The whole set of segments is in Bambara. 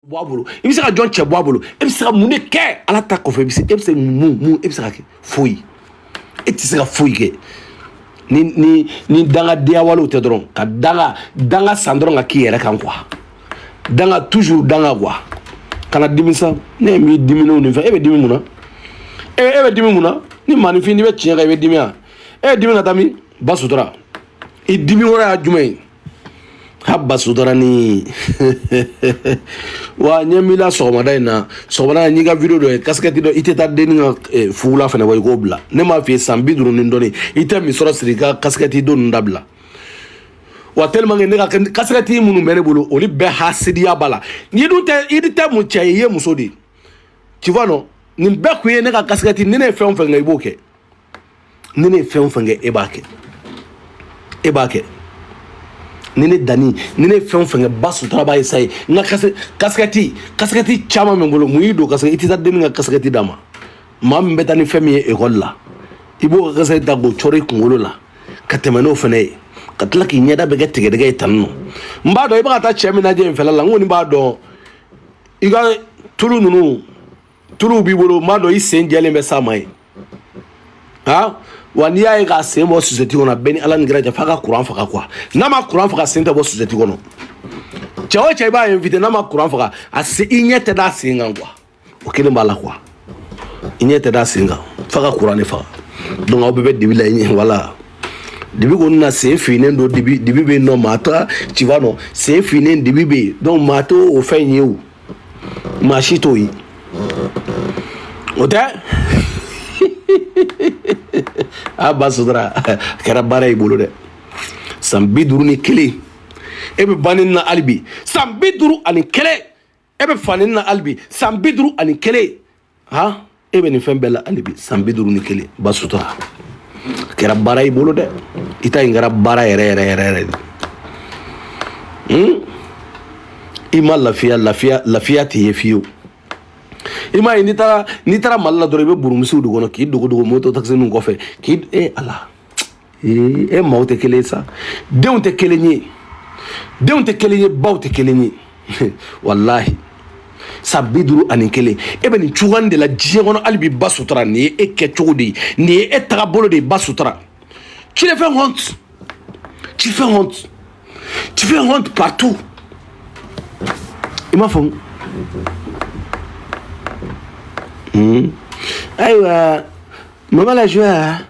bɔ a bolo i bɛ se ka jɔn cɛ bɔ a bolo e bɛ se ka mun de kɛ ala ta kɔfɛ i bɛ se e bɛ se mun mun e bɛ se ka kɛ foyi e tɛ se ka foyi kɛ ni ni ni dangadenya walew tɛ dɔrɔn ka danga danga san dɔrɔn ka k'i yɛrɛ kan quoi danga toujours danga quoi kana dimi sa ne ye min diminenw nin fɛ e bɛ dimi mun na e e bɛ dimi mun na ni maaninfin n'i bɛ tiɲɛ kan i bɛ dimi wa e ye dimi ka taa min ba sutura i dimi wɛrɛ y'a jumɛn ye ha ba sutura ni wa ɲɛ min la sɔgɔmada in na sɔgɔmada in n y'i ka video dɔ ye kasikɛti dɔ i tɛ taa denni ka eh, fugula fana bɔ i k'o bila ne m'a f'i ye san bi duuru ni dɔɔni i tɛ misɔrɔ siri i ka kasikɛti don ninnu dabila wa tellement que ne ka kasikɛti minnu bɛ ne bolo olu bɛɛ hasidiya b'a la n'i dun tɛ i tɛ mun cɛ ye i ye muso de ye tu vois non nin bɛɛ kun ye ne ka kasikɛti ni ne ye fɛn o fɛn kɛ i b'o kɛ ni ne ye fɛn o fɛn kɛ e b'a kɛ e b'a kɛ ni ne danni ni ne fɛn o fɛn kɛ ba sutura b'a ye sa ye n ka kasikɛti kasikɛti caman bɛ n bolo mun y'i don kasikɛ i tɛ taa denni ka kasikɛti d'a ma mami bɛ taa ni fɛn min ye ekɔli la i b'o ka kasikɛti ta k'o cɔrɔ i kunkolo la ka tɛmɛ n'o fana ye ka tila k'i ɲɛda bɛɛ kɛ tigɛdɛgɛ ye tan non n b'a dɔn i bɛ ka taa cɛ min lajɛ in fɛla la n kɔni b'a dɔn i ka tulu ninnu tuluw b'i bolo m'a dɔn i sen jɛlen bɛ s'a ma ye han wa n'i y'a ye k'a sen bɔ sosɛti kɔnɔ bɛɛ ni ala ni kira cɛ f'a ka kuran faga quoi n'a ma kuran faga sen tɛ bɔ sosɛti kɔnɔ cɛ o cɛ i b'a invite n'a ma kuran faga a se i ɲɛ tɛ d'a sen kan quoi o kelen b'a la quoi i ɲɛ tɛ d'a sen kan f'a ka kuran de faga donc aw bɛɛ bɛ dibi la i ɲɛ wala dibi kɔni na sen finnen don dibi dibi bɛ yen non maa t'a tu vois non sen finnen dibi bɛ yen donc maa t'o o fɛn ye o Maa si t'o ye. O tɛ? A ba sutura kɛra baara y'i bolo dɛ. San bi duuru ni kelen. E bɛ ba neni na hali bi. San bi duuru ani kelen. E bɛ fa neni na hali bi. San bi duuru ani kelen. ha e bɛ nin fɛn bɛɛ la hali bi san bi duuru ni kelen ba sutura a kɛra baara y'i bolo dɛ i ta in kɛra baara yɛrɛ yɛrɛ yɛrɛ yɛrɛ de hmm? i ma lafiya lafiya lafiya t'i ye fiyewu i m'a ye n'i taara n'i taara mali la dɔrɔn i bɛ burumusiw de kɔnɔ k'i dogo dogo moto takisiniw kɔfɛ k'i e ala ee e maaw tɛ kelen ye sa denw tɛ kelen ye denw tɛ kelen ye baw tɛ kelen ye walahi san bi duuru ani kelen e bɛ nin cogoya de la diɲɛ kɔnɔ hali bi ba sutura nin ye e kɛ cogo de ye nin ye e taga bolo de ye ba sutura tu le fais honte tu fais honte tu fais honte partout i m'a faamu ayiwa mama la joie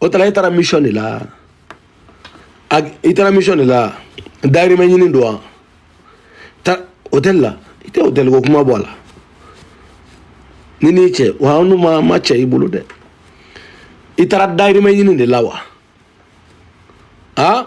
hôtel la e taara mission de la i taara mission de la dayirimɛ ɲini don wa taa hôtel la i tɛ hôtel ko kuma bɔ a la ni n'i cɛ wa an dun ma ma cɛ i bolo dɛ i taara dayirimɛ ɲini de la wa aa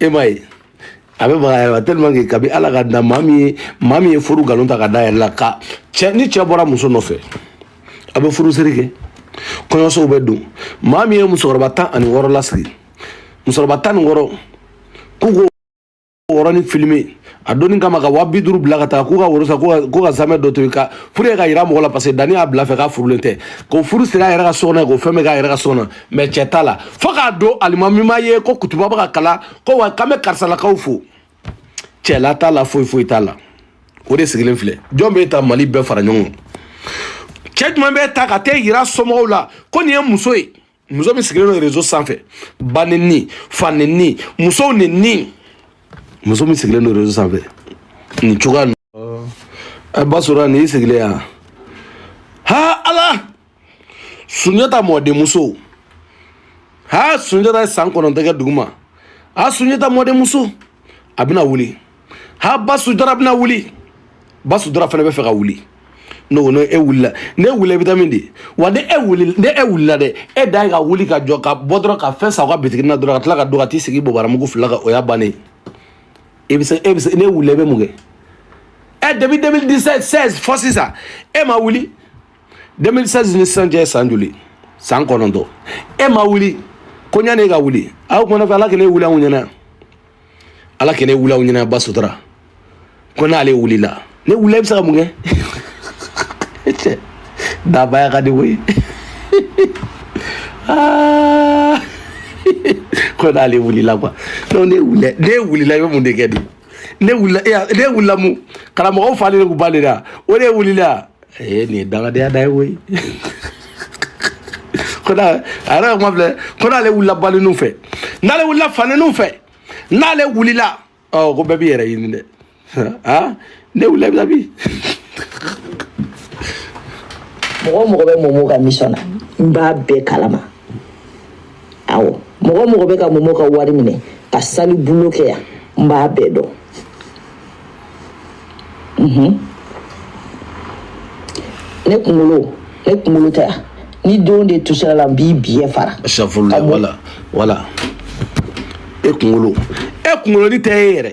e ma ye a bɛ baga a yɛrɛ la tellement que kabi ala k'a da maa min ye maa min ye furu nkalon ta k'a da a yɛrɛ la ka cɛ ni cɛ bɔra muso nɔfɛ a bɛ furusiri kɛ kɔɲɔsow bɛ don maa min ye musokɔrɔba tan ani wɔɔrɔ lasigi musokɔrɔba tan ni wɔɔrɔ k'u ko woro nin filime a donni kama ka waa bi duuru bila ka taa k'u ka woro san k'u ka zamɛ dɔ to yen ka pour que k'a yira mɔgɔ la parce que danni y'a bila fɛ k'a furulen tɛ ko furu siri a yɛrɛ ka sokɔnɔ ye k'o fɛn bɛɛ k'a yɛrɛ ka sokɔnɔ mais cɛ t'a la fo k'a don alimami ma ye ko kutuba bɛ ka kalan ko wa k'an bɛ karisalakaw fo cɛla t'a la foyi foyi t'a la o de sigilen filɛ jɔn b'e ta mali bɛɛ fara ɲɔgɔn kan cɛ jumɛn b'e ta ka t'e yira somɔgɔw la ko nin ye muso ye muso min sigilen don réseau sanfɛ ba neni fa neni musow neni muso min sigilen don réseau sanfɛ nin cogoya nin e b'a sɔrɔ nin y'i sigilen yan ha ala sunjata mɔdenmuso ha sunjata ye san kɔnɔntɔn kɛ duguma a sunjata mɔdenmuso a bɛna wuli ha ba sutura bɛna wuli ba sutura fana bɛ fɛ ka wuli n'o n'o e wulila n'e wulila i bɛ taa min di wa ni e wulila ni e wulila dɛ e dan ye ka wuli ka jɔ ka bɔ dɔrɔn ka fɛn san aw ka bitigi na dɔrɔn ka tila ka don ka t'i sigi bobaramugu fila kan o y'a bannen ye bɛ se e bɛ se n'e wulila i bɛ mun kɛ ɛ depuis 2016 fo sisan e ma wuli 2016 ni sisan cɛ san joli san kɔnɔntɔn e ma wuli ko ɲani e ka wuli aw kumana fɛ ala kan'e wuli anw ɲɛna yan ala kan'e wuli anw ɲɛna ba sutura ko n'ale wulila n'e wulila i bɛ se ka mun kɛ cɛ dabaya ka di koyi ko n'ale wulila quoi donc n'e wulila n'e wulila i bɛ mun de kɛ de n'e wulila e n'e wulila mun karamɔgɔw falen de tun b'ale la o de wulila ee nin ye dangadenya dan ye koyi ko n'a a yɛrɛ ka kuma filɛ ko n'ale wulila baneniw fɛ n'ale wulila faneniw fɛ n'ale wulila ɔ ko bɛɛ b'i yɛrɛ ɲini dɛ aa ne wulila bi sa bi mɔgɔ o mɔgɔ bɛ momo ka mission na n b'a bɛɛ kalama aw mɔgɔ o mɔgɔ bɛ ka momo ka wari minɛ ka sale boulot kɛ yan n b'a bɛɛ dɔn mhm. ne kunkolo ne kunkolo tɛ yan ni denw de tusira la n b'i biɲɛ fara safurula wala wala e kunkolo e kunkoloni tɛ e yɛrɛ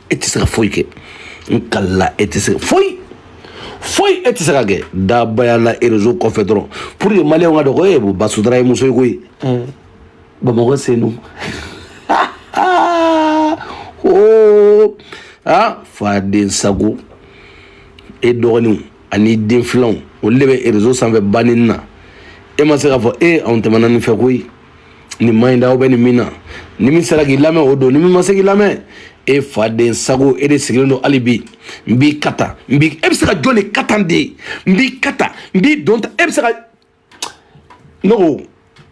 e tɛ se ka foyi kɛ n kalila e tɛ se foyi foyi e tɛ se ka kɛ dabaya la réseau kɔfɛ dɔrɔn pour que maliyɛnw k'a dɔn ko e b'o ba sutura ye muso ye koyi bamakɔ senu oo a faden sago e dɔgɔninw ani den filanw olu de bɛ réseau sanfɛ banni na e ma se k'a fɔ e anw tɛmɛna nin fɛ koyi nin man ɲi da aw bɛ nin min na ni min sera k'i lamɛn o don ni min ma se k'i lamɛn e faden sago e de sigilen don hali bi n b'i kata n b'i e bɛ se ka jɔn de katan de n b'i kata n b'i don ta e bɛ se ka ne ko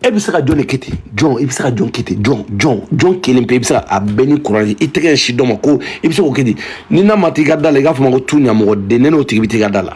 e bɛ se ka jɔn de kɛ ten jɔn i bɛ se ka jɔn kɛ ten jɔn jɔn jɔn kelen pe i bɛ se ka a bɛɛ ni kuran i tɛgɛ ɲɛsin dɔ ma ko i bɛ se k'o kɛ ten ni ne ma t'i ka da la i k'a fɔ n ma ko tu ɲamɔgɔden ne n'o tigi bɛ t'i ka da la.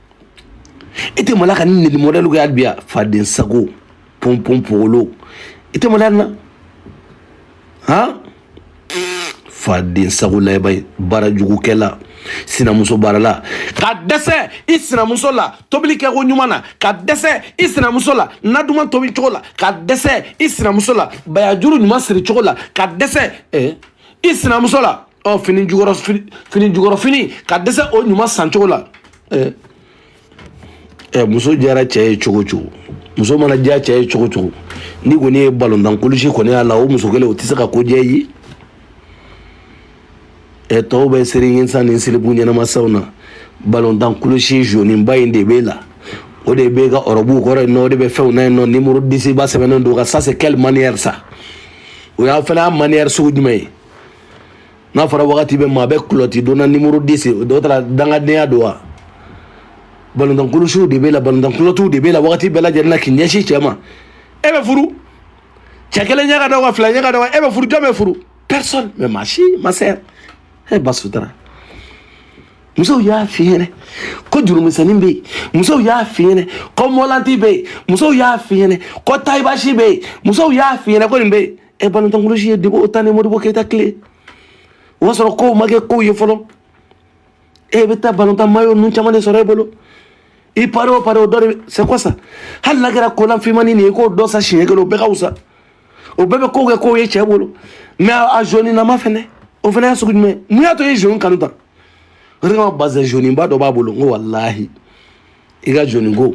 i tɛ malo ka nenili mɔdɛli kɛ hali bi a faden sago pɔnpɔn pogolo i tɛ maloya na han faden sago layɛba ye baarajugukɛla sinamuso baarala ka dɛsɛ i sinamuso la tobili kɛko ɲuman na ka dɛsɛ i sinamuso la na duman tobi cogo la ka dɛsɛ i sinamuso la bayajuru ɲuman siri cogo la ka dɛsɛ eh, i sinamuso la ɔ fini jukɔrɔ fini jukɔrɔ fini ka dɛsɛ o ɲuman san cogo la ɛɛ ɛ muso diyara cɛ ye cogo cogo muso mana diya cɛ ye cogo cogo ni kɔni ye balontan kulusi kɔni y'a la o muso kelen o tɛ se ka ko diya ye ɛ tɔw bɛ seri ɲinsa ni silipu ɲɛnamasaw na balontan kulusi zoniba in de b'e la o de b'e ka ɔrɔbuw kɔrɔ yen nɔ o de bɛ fɛnw na yen nɔ nimoro disiba sɛbɛnnen don a kan ça c'est quelle manière ça o y'a fana y'a manière sugu jumɛn ye n'a fɔra wagati bɛɛ maa bɛ kulɔti donna nimoro disi o dɔ taara dangadenya don wa balontan kulusiw de b'e la balontan kulɔtiw de b'e la wagati bɛɛ lajɛlen na k'i ɲɛsin cɛ ma e bɛ furu cɛ kelen ɲɛ ka da wa fila ɲɛ ka da wa e bɛ furu jɔn b'e furu personne mais ma chère ma sœur e ba sutura musow y'a f'i ɲɛnɛ ko jurumisɛnnin bɛ yen musow y'a f'i ɲɛnɛ ko mɔlanti bɛ yen musow y'a f'i ɲɛnɛ ko tayibasi bɛ yen musow y'a f'i ɲɛnɛ ko nin bɛ yen ɛ balontan kulusi ye depuis au temps ni modibo keyita tile o b'a sɔrɔ kow ma kɛ kow ye fɔlɔ e bɛ taa balontan mayo ninnu caman de sɔrɔ e bolo i pari o pari o dɔ de c'est quoi ça hali n'a kɛra kolan finmannin nin ye k'o dɔ san siɲɛ kelen o bɛɛ ka wusa o bɛɛ bɛ kow kɛ kow ye cɛ bolo mais a zoninama fɛnɛ o fɛnɛ y'a sugu jumɛn mun y'a to i ye zoni kanu tan o de kama bazɛn zoniba dɔ b'a bolo n ko walahi i ka jɔni ko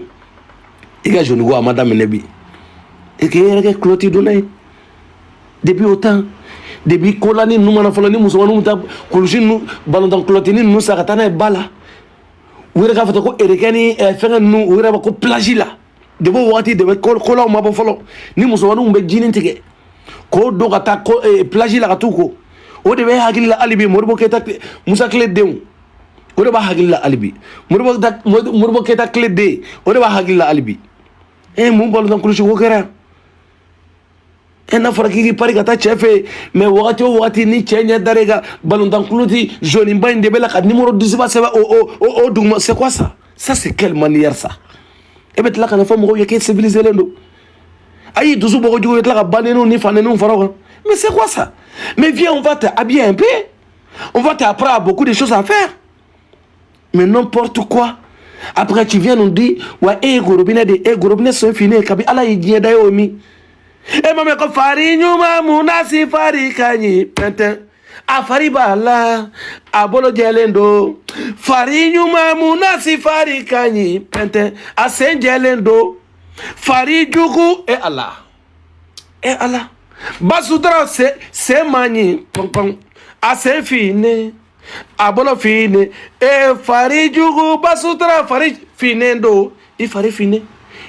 i ka jɔni ko a ma daminɛ bi e k'i yɛrɛ kɛ kulɔti donna ye depuis o temps depuis kolani ninnu ma na fɔlɔ ni musomaninw bɛ taa kulusi ninnu balontan kulɔtini ninnu san ka taa n'a ye ba la u yɛrɛ k'a fɔ ten ko erekɛ ni eh, fɛngɛ ninnu u yɛrɛ b'a ko plage la depuis o wagati depuis kolanw ma bɔ fɔlɔ ni musomaninw bɛ jinin tigɛ k'o don ka taa eh, plage la ka t'u ko o de b'a hakili la hali bi moribo keyita musa tile denw o de b'a hakili la hali bi moribo ta moribo keyita tile den o de b'a hakili la hali bi e eh, mun balontan kulusi ko kɛra e eh, n'a fɔra k'i k'i pari ka taa cɛ fɛ yen mais wagati o wagati ni cɛ ɲɛ dara i ka balontan kulɔti zoniba in de b'e la ka nimoro disiba sɛbɛn o o o o duguma c'est quoi ça ça c'est quelle manière ça e bɛ tila ka n'a fɔ mɔgɔw ye k'e civilisé len don ayi dusu bɔgɔjugu bɛ tila ka baneniw ni faneniw fara o kan mais c'est quoi ça mais viens on va te habiller un peu On voit qu'après, il y a beaucoup de choses à faire. Mais n'importe quoi. Après, tu viens nous dire, ouais, eh, gorobine, de, eh, gorobine, c'est fini, eh, kabi, ala, il y a d'ailleurs, mi. Eh, maman, comme fari, nyuma, mouna, si fari, kanyi, penten. A fari b'a la, a bolo jɛlen don. Fari ɲuman mun na si fari ka ɲi pɛntɛn. A sen jɛlen don. Fari jugu e eh, a la. ɛ eh, ala ba sutura se se man ɲi pɔnpɔn a sen finnen a bolo finnen e fari jugu ba sutura fari finnen don i fari finnen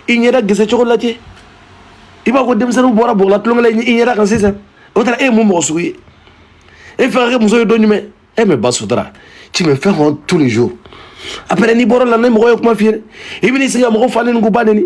i ɲɛda gese cogo lajɛ i b'a ko denmisɛnninw bɔra bɔgɔla tulonkɛ la i ɲɛda kan sisan o taara e ye mun mɔgɔ sugu ye e fɛ ka kɛ muso ye don jumɛn e mais ba sutura tu me fais honte tous les jours après n'i bɔra la ni mɔgɔ ye kuma f'i ye i bɛn'i sigi ka mɔgɔ fa neni k'u ba neni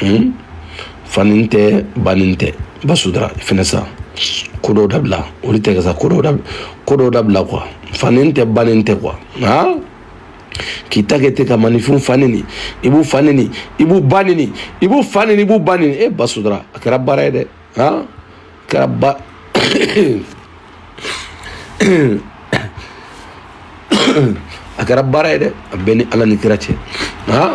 hmm? fanin tɛ banin tɛ ba sutura i fɛnɛ sa ko dɔw dabila olu tɛ kɛ sa ko dɔw dabila ko dɔw dabila quoi fanin tɛ banin tɛ quoi aa k'i ta kɛ ten ka maninfinw fa neni i b'u fa neni i b'u ba neni i b'u fa neni i b'u ba neni e ba sutura a kɛra baara ye dɛ aa Karaba. a kɛra baara ye dɛ a b'e ni ala ni kira cɛ aa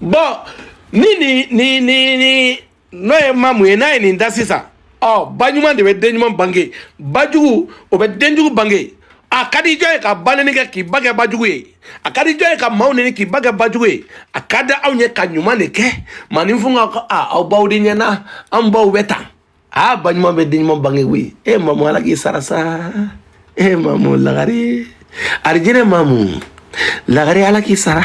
bon nini ni ni ni n'o ye mamu ye n'a ye nin da sisan ɔ ba ɲuman de bɛ den ɲuman bange ba jugu o bɛ den jugu bange a ka di jɔn ye ka ba nɛni kɛ k'i ba kɛ ba jugu ye a ka di jɔn ye ka maaw nɛni k'i ba kɛ ba jugu ye a ka di anw ye ka ɲuman de kɛ maninfinw ka ko a aw baw de ɲɛna an baw bɛ tan a baɲuman bɛ denɲuman bange koyi e mamu ala k'i sara sa e mamu lagare arijinɛ mamu lagare ala k'i sara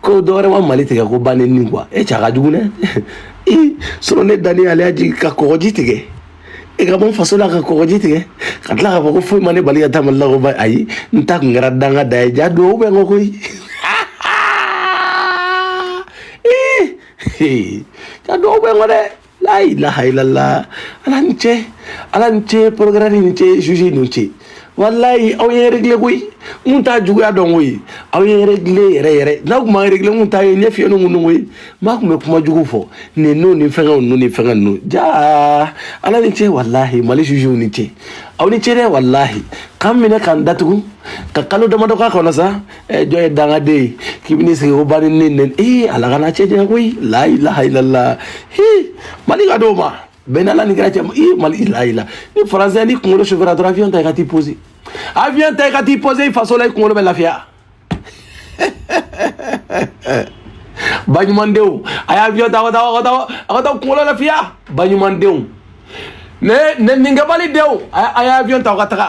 ko dɔwɛrɛ ma mali tigɛ ko ba neni quoi e cɛ a ka jugu dɛ i sɔrɔ ne dani ale y'a jigin ka kɔgɔji tigɛ e ka bɔ faso la ka kɔgɔji tigɛ ka tila k'a fɔ ko foyi ma ne bali ka taa mali la ko ba ayi n ta kun kɛra danga de ye jaa dɔw bɛ n ko koyi jaa dɔw bɛ n ko dɛ layilaha ilala ala ni ce ala ni ce procureur ni ce zuzi ni ce walayi aw ye regle koyi mun t'a juguya dɔn koyi aw ye regle yɛrɛ yɛrɛ n'a tun ma regle mun t'a ye ne fiye ni mun dɔn koyi maa tun bɛ kuma jugu fɔ nin n'o ni fɛngɛw n'o ni fɛngɛ ninnu jaa ala ni ce walahi mali zuziw ni ce aw ni ce dɛ walahi k'an minɛ k'an datugu ka kalo damadɔ k'a kɔnɔ sa ɛ jɔn ye dangaden ye k'i bɛ n'i sigi ko ba nenini ee ala kana cɛ janya koyi layilaha ilala hi mali ka d'o ma bɛn n'ala ni kira cɛ ee mali layila ni faransɛ ni kunkolo sofɛra dɔrɔn avion ta i ka t'i pose avion ta i ka t'i pose i faso la i kunkolo bɛ lafiya baɲumandenw a ye avion ta a ka taa a ka taa a ka taa kunkolo lafiya baɲumandenw neninikɛbali denw a ye avion ta a ka taga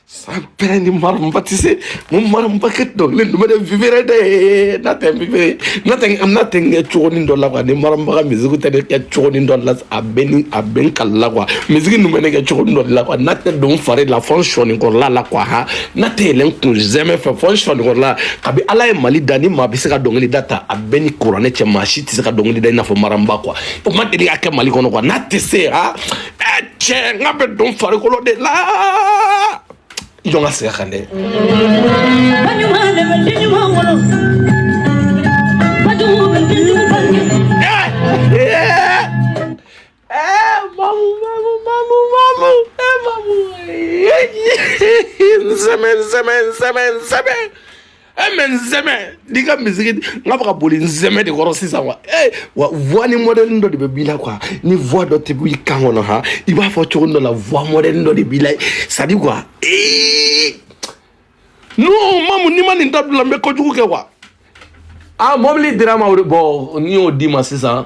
sampere ni mariam ba tɛ se mo mariam ba kɛ dɔ ne duma de vibrer de n'a tɛ vibrer n'a tɛ n'a tɛ kɛ cogonin dɔ la quoi ni mariam ba ka musique tɛ ne kɛ cogonin dɔ la a bɛ ni a bɛ n kali la quoi musique ninnu bɛ ne kɛ cogonin dɔ la quoi n'a tɛ don fari la fo n sɔɔnin kɔrɔla la quoi ha n'a tɛ yɛlɛn kunsɛmɛ fɛ fo n sɔɔnin kɔrɔla kabi ala ye mali da ni maa bɛ se ka dɔnkili da ta a bɛ ni kuranɛ cɛ maa si tɛ se ka dɔnkili da i n'a fɔ mariam ba quoi o ma deli ka kɛ mali kɔnɔ quoi n'a tɛ se ha cɛ n k'a bɛ don farikolo de la jɔn ka segin kan dɛ. Sɛmɛ sɛmɛ sɛmɛ sɛmɛ. Eh, mais n sɛmɛ d'i ka misiki n k'a bɛ ka boli n sɛmɛ de kɔrɔ sisan wa ee wa voix ni mɔdɛlini dɔ de bɛ b'i la quoi ni voix dɔ tɛ b'i kan kɔnɔ han i b'a fɔ cogo dɔ la voix mɔdɛlini dɔ de b'i la c'est à dire quoi ee non mamu n'i ma nin dabila n bɛ kojugu kɛ quoi aa mɔbili dira ma o de bɔ n'i y'o d'i ma sisan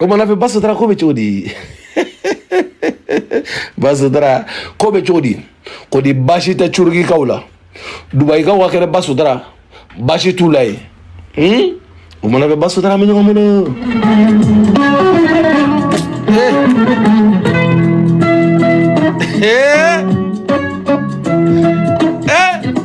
O mana kɛ baso taara ko bɛ cogo di baso taara ko bɛ cogo di ko di baasi tɛ turukikaw la dubayikaw ka kɛnɛ baso taara baasi t'u la yen hmm? o mana kɛ baso taara an bɛ ɲɔgɔn bolo. Hey! Eh! Eh!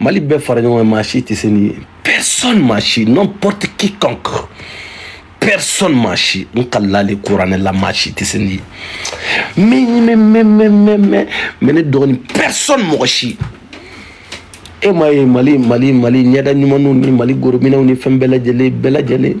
mali bɛɛ fara ɲɔgɔn kan maa si tɛ se nin ye personne maa si n'importe quiconque personne maa si n kalilen kuranɛ la maa si tɛ se nin ye mɛ mɛ mɛ mɛ mɛ mɛ mɛ ne dɔgɔnin personne mɔgɔ si e m'a ye mali mali mali ɲɛda ɲumanw ni mali gorominɛw ni fɛn bɛɛ lajɛlen bɛɛ lajɛlen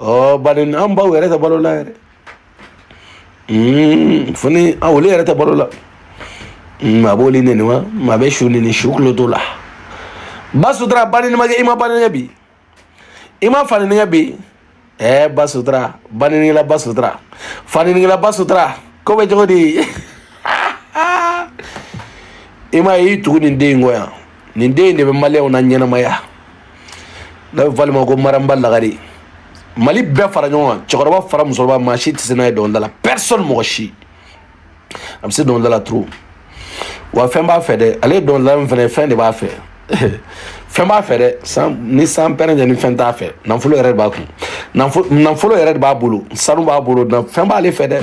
ɔ bari an baw yɛrɛ tɛ balo la yɛrɛ fini a olu yɛrɛ tɛ balo la a b'olu nɛni wa a bɛ su nɛni su kulo t'o la ba sutura ba ni ma kɛ i ma ba ni bi i ma fa ni bi ɛɛ ba sutura banɛnila ba sutura fanɛnila ba sutura ko bɛ cogo di i m'a ye i tugu nin den in kɔ yan nin den in de bɛ maliyɛnw na ɲɛnamaya n'a bɛ fɔ ale ma ko maramba lagare mali bɛɛ fara ɲɔgɔn kan cɛkɔrɔba fara musokɔrɔba maa si tɛ se nin ye dɔnkilida la personne mɔgɔ si a bɛ se dɔnkilida la trop wa fɛn b'a fɛ dɛ ale ye dɔnkilidala min fana ye fɛn de b'a fɛ fɛn b'a fɛ dɛ san ni sanpɛrɛn jɛ ni fɛn t'a fɛ nafolo yɛrɛ de b'a kun nafolo yɛrɛ de b'a bolo sanu b'a bolo fɛn b'ale fɛ dɛ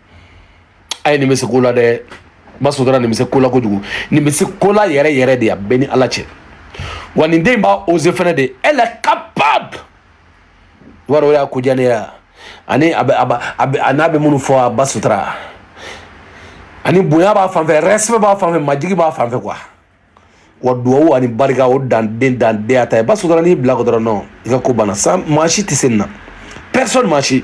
a ye nin bɛ se ko la dɛ ba sutura nin bɛ se ko la kojugu nin bɛ se ko la yɛrɛ yɛrɛ de a bɛ n ni ala cɛ wa nin den b'a oser fɛnɛ dɛ elle est capable wa o y'a ko diya ne ya ani a bɛ a b'a a bɛ a n'a bɛ minnu fɔ a ba sutura ani bonya b'a fan fɛ respect b'a fan fɛ majigin b'a fan fɛ quoi wa duwawu ani barika o dan de dan de a ta ye ba sutura n'i bila a kɔ dɔrɔn non i ka ko banna sa maa si tɛ se nin na personne maa si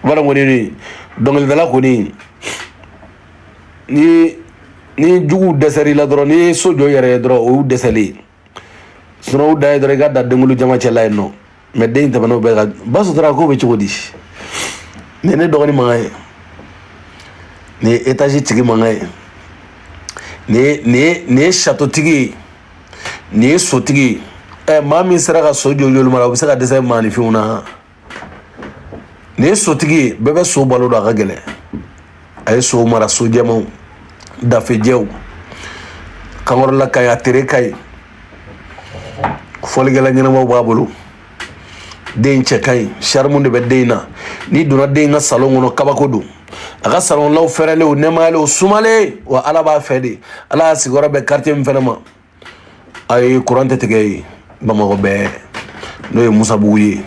wala kɔni ni dɔnkilidala kɔni ni ni juguw dɛsɛr'i la dɔrɔn n'i ye so jɔ i yɛrɛ ye dɔrɔn o y'u dɛsɛlen ye sunɔgɔ da ye dɔrɔn i ka da denkulu jama cɛla yen non mais den tɛmɛn'o bɛɛ kan ba sutura ko bɛ cogo di nin ye ne dɔgɔnin mankan ye nin ye étage tigi mankan ye nin ye nin ye nin ye château tigi ye nin ye sotigi ye ɛ maa min sera ka so jɔ jolima la o bɛ se ka dɛsɛ maaninfinw na nin ye sotigi ye bɛɛ bɛ so balo don a ka gɛlɛn a ye so mara so jɛmanw dafejɛw kankɔrɔla ka ɲi a tere ka ɲi fɔlikɛla ɲɛnamaw b'a bolo den cɛ ka ɲi charme de bɛ den na n'i donna den ka salon kɔnɔ kabako don a ka salonlaw fɛrɛlen o nɛmayalen o sumalen wa ala b'a fɛ dɛ ala y'a sigiyɔrɔ bɛn quartier min fɛnɛ ma a ye kuran tɛ tigɛ yen bamakɔ bɛɛ n'o ye musabugu ye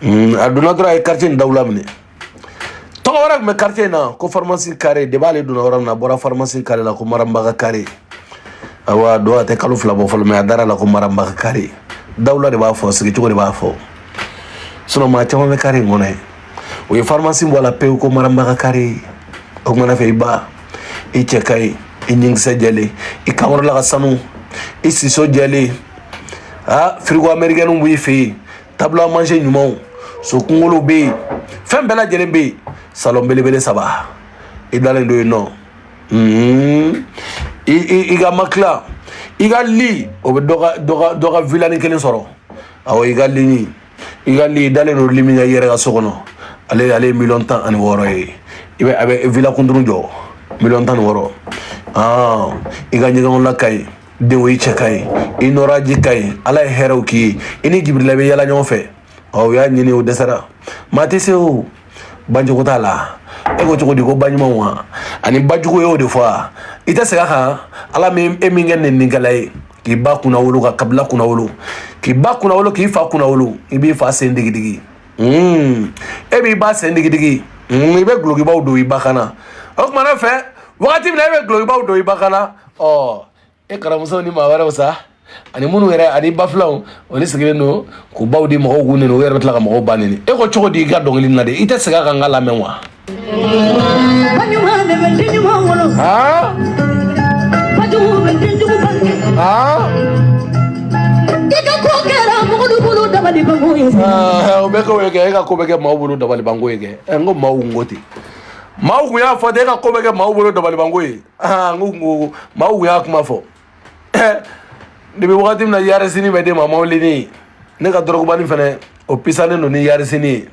hmm, a donna dɔrɔn a ye quartier in dawula minɛ tɔgɔ wɛrɛ tun bɛ quartier in na ko pharmacie carré de b'ale donna yɔrɔ min na a bɔra pharmacie carré la ko maramba ka carré awa don a tɛ kalo fila bɔ fɔlɔ mais a dara la ko maramba ka carré dawula de b'a fɔ sigicogo de b'a fɔ sinon maa caman bɛ carré in kɔnɔ yen o ye pharmacie bɔ a la pewu ko maramba ka carré o kumana fɛ i ba i cɛ ka ɲi i ɲinkisɛ jɛlen i kankɔrɔla ka sanu i siso jɛlen a firigo amɛrikɛnw b'i fɛ yen table à manger ɲumanw so kunkolo bɛ yen fɛn bɛɛ lajɛlen bɛ yen salɔn belebele saba i dalen don yen nɔ hmm. i ka matela i ka li o bɛ dɔ ka vilani kelen sɔrɔ awɔ i ka lini i ka li dalen don li min ye i yɛrɛ ka so kɔnɔ ale ale ye miliyɔn tan ani wɔɔrɔ ye i bɛ a bɛ villa kunduru jɔ miliyɔn tan ni wɔɔrɔ i ka ɲɛgɛnw la ka ɲi dɛ o i cɛ ka ɲi i nɔraji ka ɲi ala ye hɛrɛw k'i ye i ni jibirila bɛ yaala ɲɔgɔn fɛ ɔ u y'a ɲini u dɛsɛra maa tɛ se o bajugu t'a la e ko cogo di ko baɲumanw wa ani bajugu y'o de fɔ a i tɛ segin a kan ala min e min kɛ neninikɛla ye k'i ba kunnawolo ka kabila kunnawolo k'i ba kunnawolo k'i fa kunnawolo i b'i fa sen digidigi hmm. e b'i ba sen digidigi hmm, i bɛ gulokibaw don i ba kan na o tuma n'a fɛ wagati min na e bɛ gulokibaw don i ba kan na ɔ e karamuso ni maa wɛrɛw sa ani minnu yɛrɛ ani ba filanw olu sigilen don k'u baw di mɔgɔw k'u neni u yɛrɛ bɛ tila ka mɔgɔw ba neni e ko cogo di i ka dɔnkili na de i tɛ segin a kan n k'a lamɛn wa. o bɛ kɛ o ye kɛ e ka ko bɛ kɛ maaw bolo dabalibanko ye kɛ ɛ n ko maaw n ko ten maaw tun y'a fɔ ten e ka ko bɛ kɛ maaw bolo dabalibanko ye. aa n ko kungo maaw kun y'a kuma fɔ depi wagati min na yarisini bɛ d'e ma mawulini ne ka dɔrɔgubani fɛnɛ o pisalen don ni yarisini ye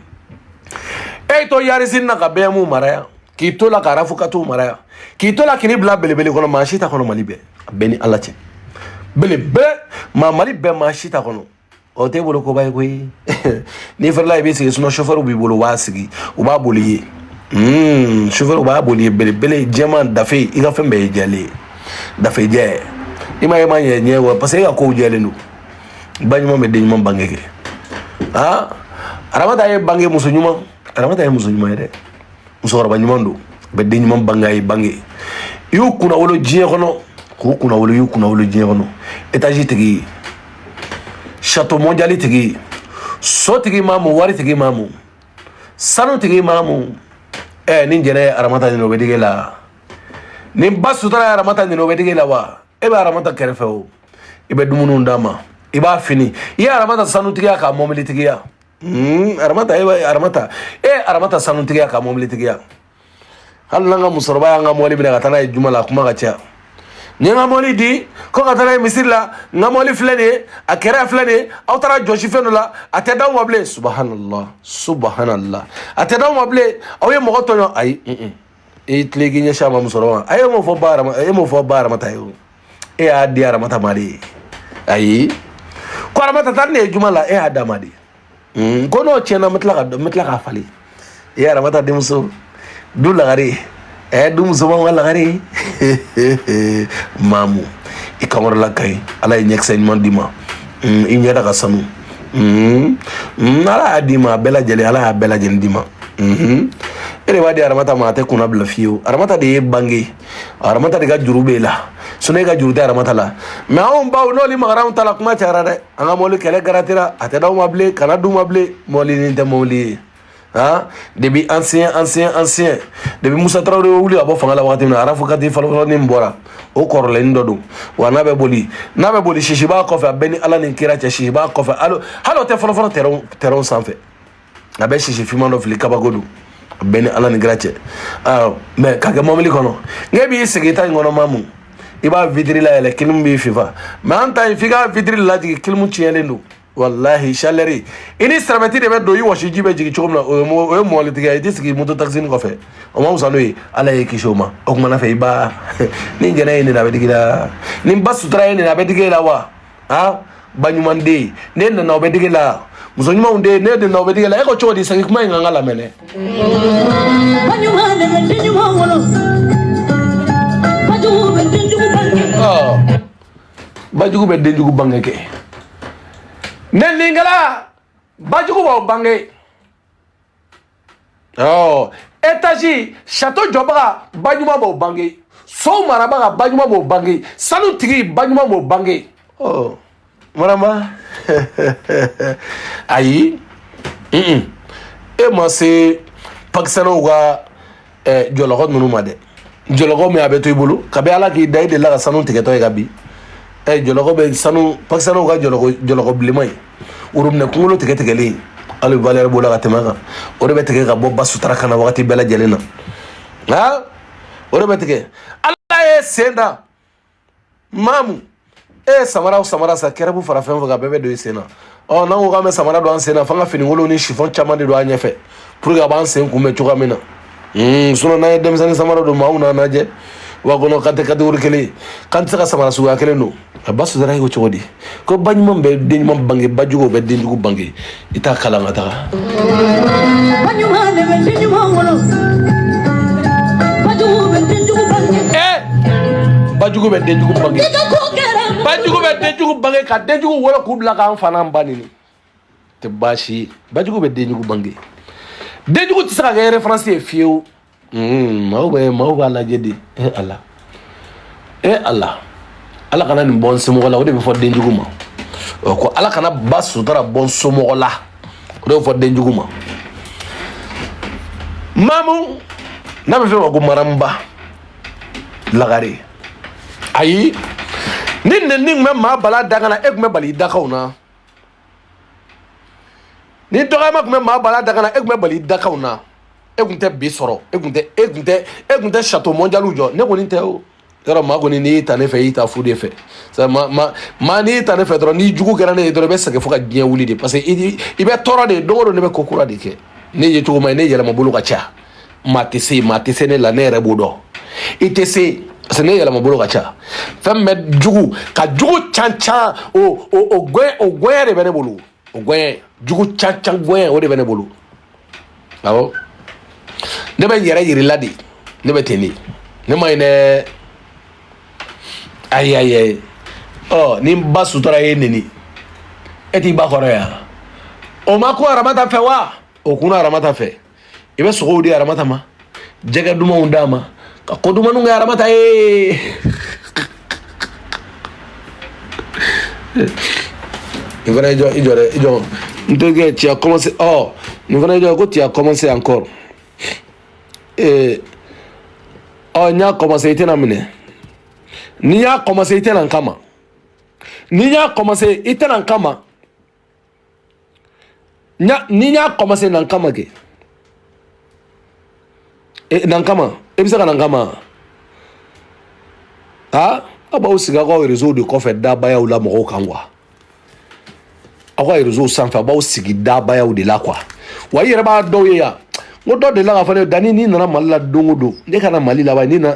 e y'i to yarisini na ka beyɛmu mara yan k'i to la ka arafu kati mara yan k'i to la k'i ni bila belebele kɔnɔ maa si t'a kɔnɔ mali bɛɛ a bɛɛ ni ala cɛ belebele maa mali bɛɛ maa si t'a kɔnɔ o tɛ bolo koba ye koyi n'i fɛrɛla i bɛ sigi sunɔ sofɛriw b'i bolo u b'a sigi u b'a boli i ye sofɛriw b'a boli i ye belebele jɛman dafe i ka fɛn bɛɛ ye jɛlen ye dafe jɛ i m'a ye ma ɲɛ ɲɛ wa parce que e ka kow jɛlen don ba ɲuman bɛ den ɲuman bange kɛ aa aramata ye bange muso ɲuman aramata ye muso ɲuman ye dɛ musokɔrɔba ɲuman don bɛ den ɲuman bange a y'i bange i y'u kunnawolo diɲɛ kɔnɔ k'u kunnawolo y'u kunnawolo diɲɛ kɔnɔ etazi tigi sato mɔndiyali tigi so tigi mamu wari tigi mamu sanu tigi mamu ɛ ni jɛnɛ ye aramata neni o bɛ digi i la ni ba sutura ye aramata neni o bɛ digi i la wa e bɛ aramata kɛrɛfɛ o i bɛ dumuniw d'a ma i b'a fini i ye aramata sanutigiya k'a mɔbilitigiya Hmm, aramata e aramata e eh, aramata sanutigiya k'a mɔbilitigiya hali n'an ka musokɔrɔba y'an ka mɔbili minɛ ka taa n'a ye juma la a kuma ka ca n ye n ka mɔbili di ko ka taa n'a ye misiri la n ka mɔbili filɛ nin ye a kɛrɛ filɛ nin ye aw taara a jɔsi fɛn dɔ la a tɛ d'aw ma bilen subahanala subahanala a tɛ d'aw ma bilen aw ye mɔgɔ tɔɲɔ ayi i tila k'i ɲɛsin a ma musokɔrɔba ma a ye mun fɔ ba a ye mun fɔ ba aramata ye o e y'a di aramata ma de ye ayi ko aramata taa ne ye juma la e y'a d'a ma de ko n'o tiɲɛna n bɛ tila ka n bɛ tila k'a falen e aramata denmuso du lagare ɛ du musomanw ka lagare maamu i kankɔrɔla ka ɲi ala ye ɲɛkisɛ ɲuman d'i ma i ɲɛda ka sanu ala y'a d'i ma a bɛɛ lajɛlen ala y'a bɛɛ lajɛlen d'i ma e de b'a di aramata ma a tɛ kunna bila fiyewu aramata de y'e bange aramata de ka juru b'e la sinɔn e ka juru tɛ aramata la mɛ anw baw n'olu magara anw ta la kuma cayara dɛ an ka mɔbili kɛlɛ garantira a tɛ d'aw ma bilen kana d'u ma bilen mɔbili nin tɛ mɔbili ye aa depuis ancien ancien ancien depuis musa tarawele bɛ wuli ka bɔ fanga la wagati min na arafu kati fɔlɔfɔlɔnin min bɔra o kɔrɔlennin dɔ don wa n'a bɛ boli n'a bɛ boli sisi b'a kɔfɛ a bɛ n ni ala ni kira cɛ sisi b'a kɔfɛ hali hali o tɛ fɔlɔfɔlɔ tɛrɛnw tɛrɛnw sanfɛ a bɛ sisi finman dɔ fili kabako don a bɛ n ni ala ni kira cɛ aa mɛ ka kɛ mɔbili kɔnɔ n'e b'i sigi i ta in kɔnɔ maamu i b'a witiri layɛlɛ kilimu b'i fifa mɛ an ta in f'i ka witiri lajigin kilimu tiɲɛlen don walahi salɛri i ni sɛrɛmɛti de bɛ don i wɔsiji bɛ jigin cogo min na o ye o ye mɔbili tigi i tɛ sigi moto takisini kɔfɛ o ma wusa n'o ye ala y'i kisi o ma o kumana fɛ i ba ni jɛnɛ ye nin a bɛ digi la ni ba sutura ye nin a bɛ digi e la wa han ba ɲuman den ne nana o bɛ digi la muso ɲumanw den ne nana o bɛ digi la e ko cogo di sangi kuma in kan ka lamɛn dɛ. ba ɲuman de bɛ den ɲuman wolo ba jugu bɛ den jugu bange. bajugu bɛ denjugu bange kɛ neninkɛla bajugu b'aw bange ɔ etazi sato jɔbaga baɲuman b'o bange sow marabaga baɲuman b'o bange sanu tigi baɲuman b'o bange ɔ marama ayi e ma se pakisanaw ka ɛ jɔlɔkɔ ninnu ma dɛ jɔlɔkɔ min a bɛ to i bolo kabi ala k'i da i delila ka sanu tigɛtɔ ye ka bin ɛ jɔlɔkɔ bɛ sanu pakisanaw ka jɔlɔkɔ jɔlɔkɔ bilenman ye worobinɛ kunkolo tigɛ tigɛlen hali valɛri b'o la ka tɛmɛ a kan o de bɛ tigɛ ka bɔ ba sutura kan na wagati bɛɛ lajɛlen na nka o de bɛ tigɛ ala ye sen da maamu e ye samara o samara san kɛrɛbu fara fɛn o fɛn kan bɛɛ bɛ don i sen na ɔ n'an ko k'an bɛ samara don an sen na f'an ka finikolon ni sifɔn caman de don an ɲɛfɛ pour que a b'an sen kunbɛn cogoya min na sinɔn n'an ye denmisɛnnin samara don maaw n'an lajɛ wa kɔnɔ k'an tɛ kategori kelen ye k'an tɛ se ka samara suguya kelen don a ba sutara ye ko cogo di ko ba ɲuman bɛ den ɲuman bange ba jugu bɛ den jugu bange i t'a kalan ka taga ba ɲuman de bɛ den ɲuman wolo ba jugu bɛ den jugu bange ee ba jugu bɛ den jugu bange ba jugu bɛ den jugu bange ka den jugu wolo k'u bila k'an fa n'an ba neni tɛ baasi ye bajugu bɛ denjugu bange denjugu tɛ se ka kɛ référence ye fiyewu maaw bɛ maaw b'a lajɛ de e ala e ala ala kana nin bɔ n somɔgɔ la o de bɛ fɔ denjugu ma ɔ ko ala kana ba sutura bɔ n somɔgɔ la o de bɛ fɔ denjugu ma mamu n'a bɛ f'o ma ko maramuba lagare ayi ni nɛni tun bɛ maa bala dakan na e tun bɛ bali i dakan na ni dɔgɔyama tun bɛ maa bala dakan na e tun bɛ bali dakan na e tun tɛ bi sɔrɔ e tun tɛ e tun tɛ e tun tɛ château mondialw jɔ ne kɔni tɛ o yɔrɔ maa kɔni n'i y'i ta ne fɛ i y'i ta fu de fɛ ma ma maa n'i y'i ta ne fɛ dɔrɔn n'i jugu kɛra ne ye dɔrɔn i bɛ sɛgɛn fo ka diɲɛ wuli de parce que i bɛ tɔɔrɔ de don o don ne bɛ ko kura de kɛ ne ye cogo ma ye ne yɛlɛma bolo ka ca maa tɛ se maa tɛ se ne la ne yɛrɛ b'o dɔn i tɛ se parce que ne yɛlɛma bolo ka ca fɛn bɛ jugu ka jugu can can o o o gɔyɛ o gɔyɛ de bɛ ne bolo o gɔyɛ jugu can can gɔyɛ o de bɛ ne bolo awɔ ne bɛ n yɛrɛ yirila de ne bɛ ten de ne man ɲi dɛ ayi ayi ayi ɔ ni n ba sutura y'e neni e t'i ba kɔrɔ yan o ma ko aramata fɛ wa o kunna aramata fɛ i bɛ sogow di aramata ma jɛgɛ dumanw d'a ma ka ko dumanw kɛ aramata ye nin fana i jɔ i jɔ dɛ i jɔ n to kɛ tu as commencé ɔ nin fana i jɔ ko tu as commencé encore ee ɔ n y'a commencé i tɛna minɛ n'i y'a commencé i tɛ na n kama n'i y'a commencé i tɛna n kama. n'i y'a commencé na n kama kɛ e, na n kama e bɛ se ka na n kama a aw b'aw sigi aw ka réseau de kɔfɛ dabayaw la mɔgɔw kan quoi aw ka réseau sanfɛ aw b'aw sigi dabayaw de la quoi wa i yɛrɛ b'a dɔw ye yan n ko dɔ delila k'a fɔ ne ye dani n'i nana mali la don o don ne ka na mali la ban n'i na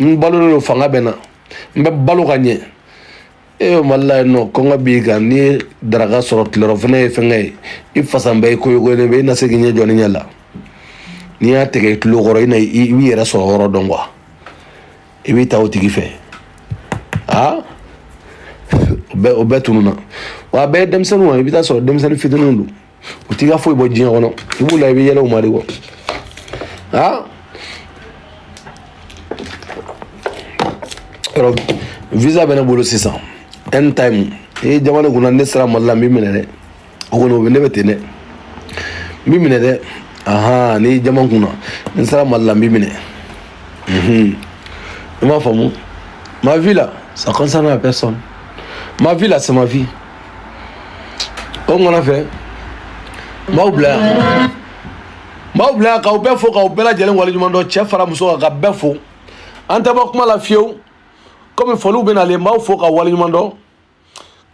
n balolen don fanga bɛ na n bɛ balo ka ɲɛ e bɛ mali la yen nɔ kɔngɔ b'i kan n'i ye daraka sɔrɔ tilerɔfana ye fɛnkɛ ye i fasan bɛ i koyokoyolen bɛ i na se k'i ɲɛ jɔ ne ɲɛ la n'i y'a tigɛ i tulo kɔrɔ i na i b'i yɛrɛ sɔrɔ yɔrɔ dɔn quoi i b'i ta o tigi fɛ aa o bɛɛ tununna wa a bɛɛ ye denmisɛnninw i bɛ t'a sɔrɔ denmisɛnnin fitininw don u t'i ka foyi bɔ diɲɛ kɔnɔ i b'u la i bɛ yɛlɛ u ma de kɔ aa yɔrɔ visa bɛ ne bolo sisan anytime ee jamana kunna ne sera mali la n b'i minɛ dɛ o kɔni o bɛ ne bɛ ten dɛ n b'i minɛ dɛ ahan ni jamana kunna n sera mali la n b'i minɛ mhm. i m'a faamu ma vie là ça concerne la personne ma vie là c'est ma vie o ŋana fɛ n b'aw bila yan n b'aw bila yan k'aw bɛɛ fo k'aw bɛɛ lajɛlen waleɲuman dɔn cɛ fara muso kan ka bɛɛ fo an tɛ bɔ kuma la fiyewu komi foliw bɛ nalen n b'aw fo ka waleɲuman dɔn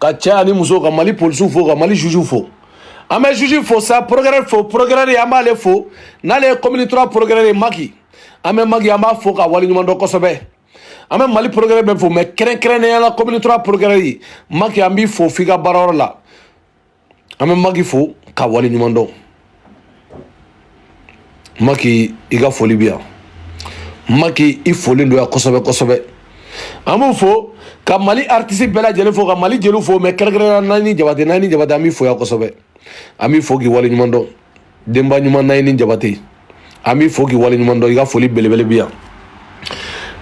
ka cɛ ani muso ka mali polisiw fo ka mali zuzuw fo an bɛ zuzu fo sa porokirɛri fo porokirɛri an b'ale fo n'ale ye komini turuwa porokirɛri ye maki an bɛ maki an b'a fo ka waleɲuman dɔn kosɛbɛ an bɛ mali porokirɛri bɛɛ fo mɛ kɛrɛnkɛrɛnnenya la komini turuwa porokirɛri ye maki an b'i fo f'i ka baarayɔrɔ la an bɛ maki fo ka wale ɲuman dɔn maki i ka foli bi yan maki i folen don yan kosɛbɛ kosɛbɛ an b'u fo ka mali aritisi bɛɛ lajɛlen fo ka mali jeliw fo mɛ kɛrɛnkɛrɛnnenya nayini jabate nayini jabate an b'i fo yan kosɛbɛ an b'i fo k'i wale ɲuman dɔn denba ɲuman nayini jabate an b'i fo k'i wale ɲuman dɔn i ka foli belebele bi yan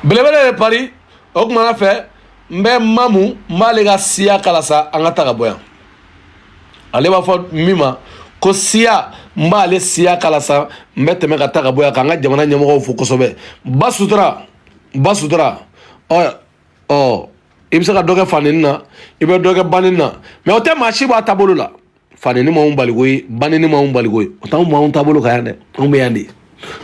belebele de pari o kumana fɛ n bɛ mamu n b'ale ka siya k'a la sa an ka ta ka bɔ yan ale b'a fɔ min ma ko siya n b'ale siya k'a la sa n bɛ tɛmɛ ka ta ka bɔ yan k'an ka jamana ɲɛmɔgɔw fo kosɛbɛ ba sutura ba sutura ɔ ɔ i bɛ se ka dɔ kɛ faneni na i bɛ dɔ kɛ baneni na mɛ o tɛ maa si b'a taabolo la faneni m'anw baliko ye baneni m'anw baliko ye o t'anw b'anw taabolo kan yan dɛ anw bɛ yan de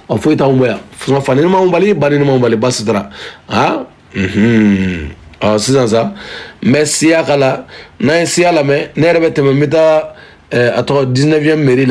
ɔ foyi t'anw bɔ yan fusɔn faneni m'anw bali baneni m'anw bali basi t'a ra aa unhun ɔ sisan sa n bɛ siya k'a la n'an ye siya lamɛn ne yɛrɛ bɛ tɛmɛ n bɛ taa a tɔgɔ 19ème mɛri la